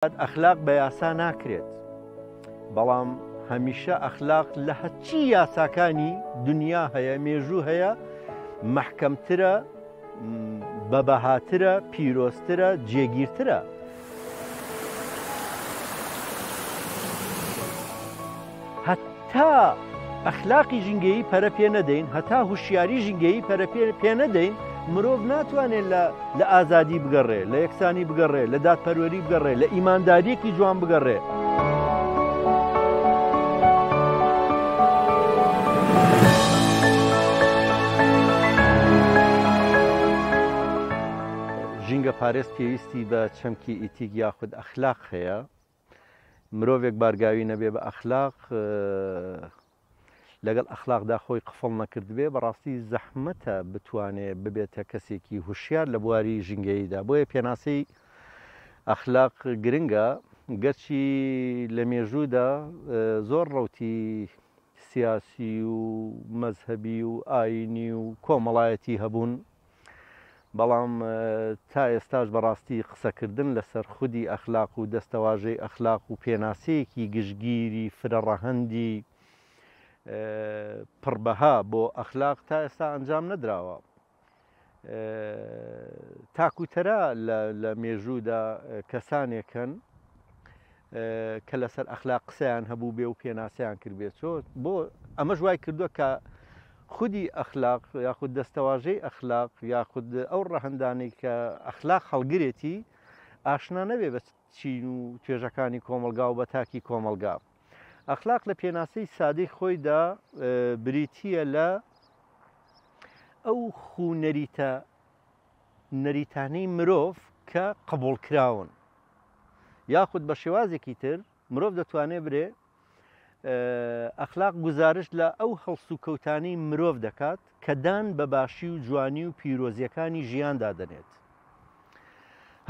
ئەخلاق بە یاسا ناکرێت بەڵام هەمیشە ئەخلاق لە هەچی یاساکانی دنیا هەیە مێژوو هەیە محکەمترە بە بەهاترە پیرۆسترە جێگیرترە هەتا ئەخلاقی ژینگەیی پەرە پێ نەدەین هەتا هوشیاری ژینگەیی پەرە پێ نەدەین مرۆڤ ناتوانێت لە ئازادی بگەڕێ لە یەکسانی بگەڕێ لە دادپەروەری بگەڕێ لە ئیمانداریەکی جوان بگەڕێ. ژینگە پارێز پێویستی بە چەمکی ئیتیک یاخود ئەخلاق هەیە مرۆڤێک بارگاوی نەبێ بە ئەخلاق لەگەڵ ئەخلاقدا خۆی قفڵ نەکردبێ بەڕاستی زەحمەتە بتوانێ ببێتە کەسێکی هوشیار لە بواری ژینگەییدا بۆیە پێناسەی ئەخلاق گرنگە گەرچی لە مێژوودا زۆر ڕوتی سیاسی و مەذهبی و ئاینی و کۆمەڵایەتی هەبوون بەڵام تا ئێستاش بەڕاستی قسەکردن لەسەر خودی ئەخلاق و دەستەواژەی ئەخلاق و پێناسەیەکی گشتگیری فرەڕەهەندی پڕ بەها بۆ ئەخلاق تا ئێستا ئەنجام نەدراوە. تاکوتەرا لە مێژوودا کەسانێکن کە لەسەر ئەخلاق قسەیان هەبوو بێ و پێناسەیان کردبێت بۆ ئەمەش وای کردووە کە خودی ئەخلاق یاخود دەستەواژەی ئەخلاق یاخود ئەو ڕەهەندانەی کە ئەخلاق هەڵگرێتی ئاشنا نەبێ بە چین و توێژەکانی کۆمەڵگا و بە تاکی کۆمەڵگا. ئەخلاق لە پێناسەی سادەی خۆیدا بریتییە لە ئەو خوو نەریتە نەریتانەی مرۆڤ کە قبوڵکراون یاخود بە شێوازێکی تر مرۆڤ دەتوانێ برێ ئەخلاق گوزارشت لە ئەو هەڵس و کەوتانی مرۆڤ دەکات کە دان بە باشی و جوانی و پیرۆزیەکانی ژیاندا دەنێت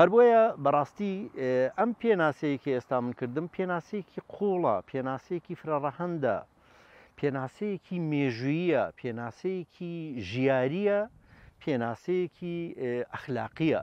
هەربۆیە بەڕاستی ئەم پێناسەیەکی ئێستا من کردم پێناسەیەکی قوڵە پێناسەیەکی فرەڕەهندە پێناسەیەکی مێژوییە پێناسەیەکی ژیاریە پێناسەیەکی ئەخلاقیە